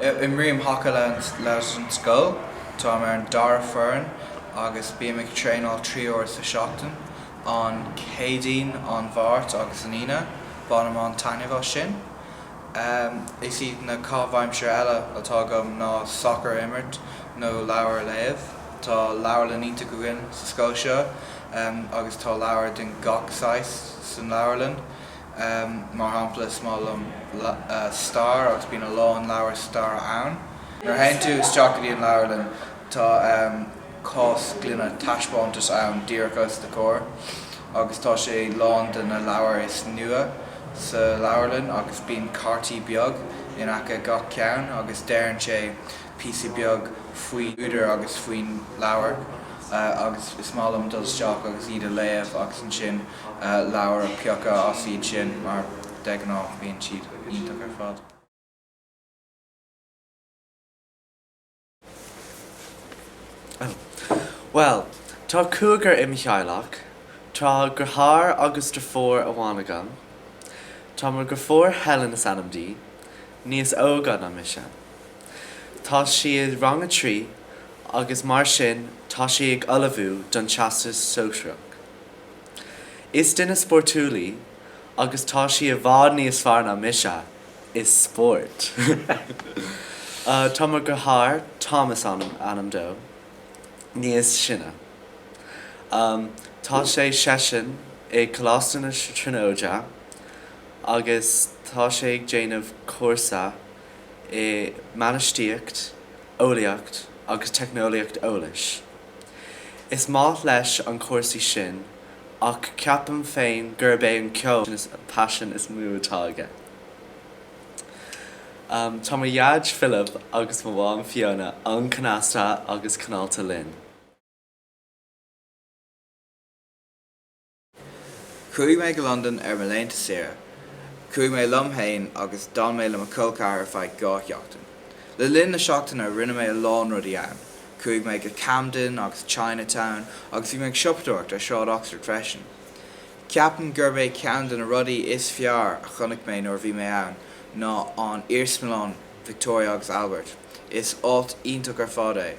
Imrím haca leis an scoil. Táim ar an dara foireann agus bím ag traenáil trí uair sa seachtain, an Céadaoin, an Mháirt agus an Aoine. Bainim an-taitneamh as sin. Is iad na caithimh aimsire eile atá agam ná sacar a imirt nó leabhair a léamh. Tá leabharlann iontach againn sa scoil seo agus tá leabhair den gach saghas san leabharlann. Mar shampla, is maith liom stair agus bíonn a lán leabhair staire ann. Nuair a théann tú isteach go dtí an leabharlann, tá. cás gloine taispeántais ann díreach os do chomhair agus tá sé lán de na leabhair is nua sa leabharlann agus bíonn cártaí beag in aice gach ceann agus deireann sé píosa beag faoi údar agus faoin leabhar agus is maith liom dul isteach agus iad a léamh agus ansin leabhair a piocadh as iad sin mar de ghnáth bíonn siad iontach ar fad. Bhuel, tá cúigear i mo theaghlach. Tá deartháir agus deirfiúr amháin agam. Tá mo dheirfiúr, Helen is ainm di, níos óga ná mise. Tá sí i rang a trí agus mar sin tá sí ag ullmhú don Teastas Sóisearach. Is duine spórtúil í. agus tá sí i bhfad níos fearr ná mise i spóirt. Tá mo dheartháir, Thomas is ainm dó, níos sine. Tá sé seisean i Coláiste na Tríonóide agus tá sé ag déanamh cúrsa i mbainistíocht, eolaíocht agus teicneolaíocht eolais. Is maith leis an cúrsaí sin. ach ceapaim féin gurb é an ceol an paisean is mó atá aige. Tá mo dhaid Philip agus mo mham Fiona an-cneasta agus cineálta linn. Chuaigh mé go Londain ar mo laethanta saoire. Chuaigh mé liom féin agus d'fhan mé le mo cholcheathar ar feadh dhá sheachtain. Le linn na seachtaine rinne mé a lán rudaí ann. Chuaigh mé go Camden agus Chinatown agus bhí mé ag siopadóireacht ar Shráid Oxford freisin. Ceapaim gurb é ceann de na rudaí is fearr a chonaic mé nuair a bhí mé ann ná an Iarsmalann Victoria agus Albert. Is áit iontach ar fad é.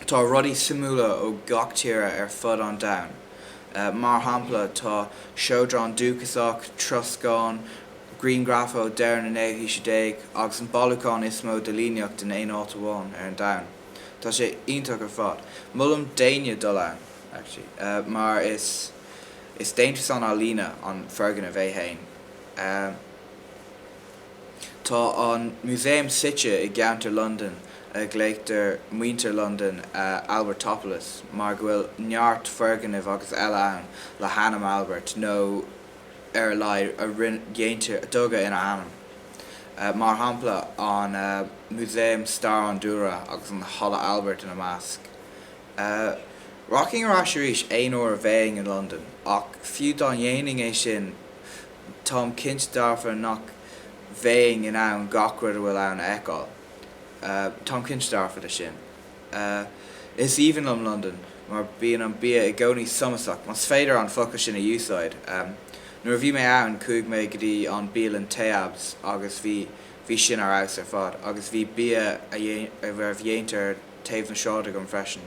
Tá rudaí suimiúla ó gach tíre ar fud an domhain. Mar shampla, tá seodráin dúchasach, troscán, grianghraif ó dheireadh na naoú haois déag agus an bailiúchán is mó de líníocht in aon áit amháin ar an domhan. Tá sé iontach ar fad. Molaim d'éinne dul ann, mar is déantúsán ealaíne an foirgneamh é féin. Tá an músaem suite i gceantar Londain a glaonn muintir Londain Albertopolis mar go bhfuil neart foirgnimh agus eile ann le hainm Albert nó, ar a laghad, a déantar tógadh ina ainm, mar shampla an Músaem Stair an Dúlra agus an Halla Albert ina measc. Rachainn ar ais arís aon uair a bheinn i Londain, ach fiú dá ndéanfainn é sin, táim cinnte dearfa nach bheinn in ann gach rud atá ann a fheiceáil, táim cinnte dearfa de sin. Ahh, is aoibhinn liom Londain mar bíonn an bia i gcónaí somasach, más féidir an focal sin a úsáid. Nuair a bhí mé ann, chuaigh mé go dtí an bialann Tayyabs agus bhí, bhí sin ar fheabhas ar fad agus bhí bia a raibh déanta ar thaobh na sráide agam freisin.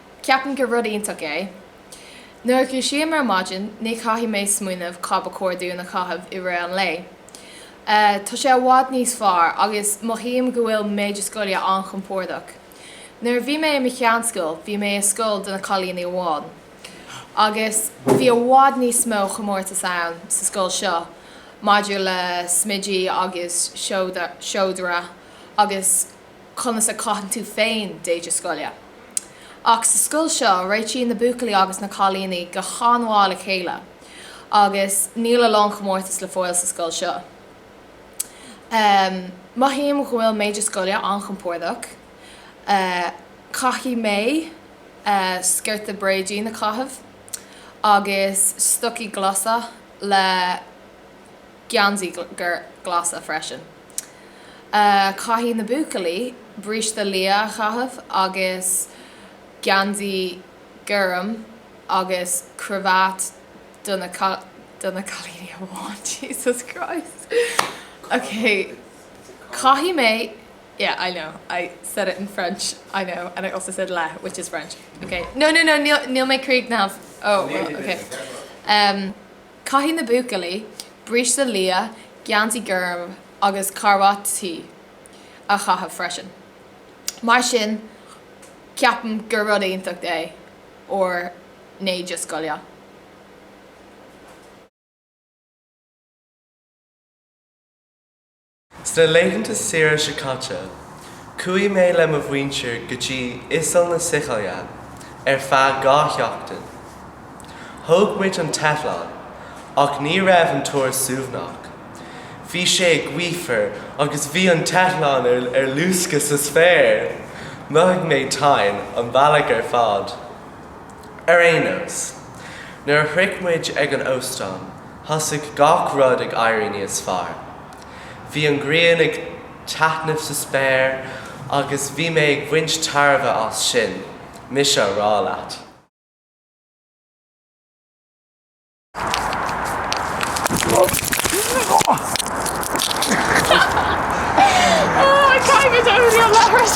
Ceapaim gur rud iontach é. Nuair a dhúisím ar maidin ní chaithfidh mé smaoineamh cad ba chóir dúinn a chaitheamh i rith an lae. Tá sé i bhfad níos fearr agus mothaím go bhfuil m'éide scoile an-chompordach. Nuair a bhí mé i mo sheanscoil bhí mé i scoil do na cailíní amháin agus bhí i bhfad níos mó chomórtas ann sa scoil seo maidir le smideadh agus seodra agus conas a chaitheann tú féin d'éide scoile. Ach sa scoil seo, réitíonn na buachaillí agus na cailíní go han-mhaith le chéile agus níl a lán comórtas le fáil sa scoil seo. Mothaím go bhfuil m'éide scoile an-chompordach. Caithfidh mé sciorta bréidín a chaitheamh agus stocaí glasa le geansaí glas freisin. Caithfidh na buachaillí bríste liath a chaitheamh agus geansaí gorm agus cravate do na, do na cailíní amháin, Jesus Christ, ok, caithfidh mé, yeah, I know, I said it in French, I know, and I also said le, which is French, ok, no, no, no, níl, níl mé críochnaithe, oh, well, ok. Caithfidh na buachaillí bríste liath, geansaí gorm agus carbhat tí a chaitheamh freisin. Mar sin ceapaim gur rud iontach é ár n-éide scoile. Sna laethanta saoire seo caite, chuaigh mé le mo mhuintir go dtí Oileán na Sicile ar feadh dhá sheachtain. Thóg muid an t-eitleán, ach ní raibh an turas suaimhneach. Bhí sé an-ghaofar agus bhí an t-eitleán ar luascadh sa spéir! Mhothaigh mé tinn an bealach ar fad. Ar aon nós, nuair a shroich muid ag an óstán, thosaigh gach rud ag éirí níos fearr. Bhí an ghrian ag taitneamh sa spéir agus bhí mé ag baint tairbhe as sin, mise a rá leat. Caithfidh muid éirí leo leithris!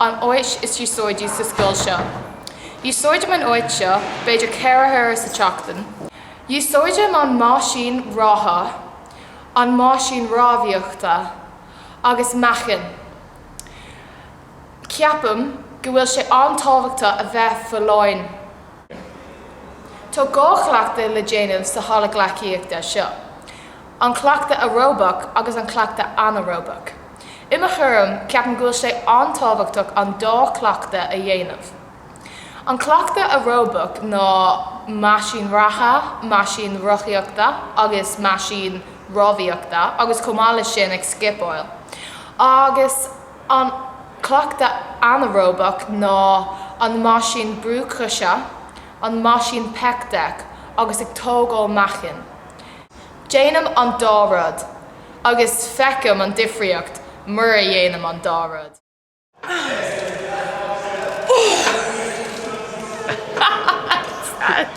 An áit is úsáidí sa scoil seo. Úsáidim an áit seo b'fhéidir ceithre huaire sa tseachtain. Úsáidim an meaisín reatha, an meaisín rámhaíochta agus meáchain. Ceapaim go bhfuil sé an-tábhachtach a bheith folláin. Tá dhá chleachtadh le déanamh sa halla gleacaíochta seo, an cleachtadh aeróbach agus an cleachtadh anaeróbach. I mo thuairim, ceapaim go bhfuil sé an-tábhachtach an dá chleachtadh a dhéanamh. An cleachtadh aeróbach ná meaisín reatha, meaisín rothaíochta agus meaisín rámhaíochta agus chomh maith leis sin ag scipeáil agus an cleachtadh anaeróbach ná an meaisín brúite seo, an meaisín pec deck, agus ag tógáil meáchain. Déanaim an dá rud, agus feicim an difríocht mura dhéanaim an dá rud.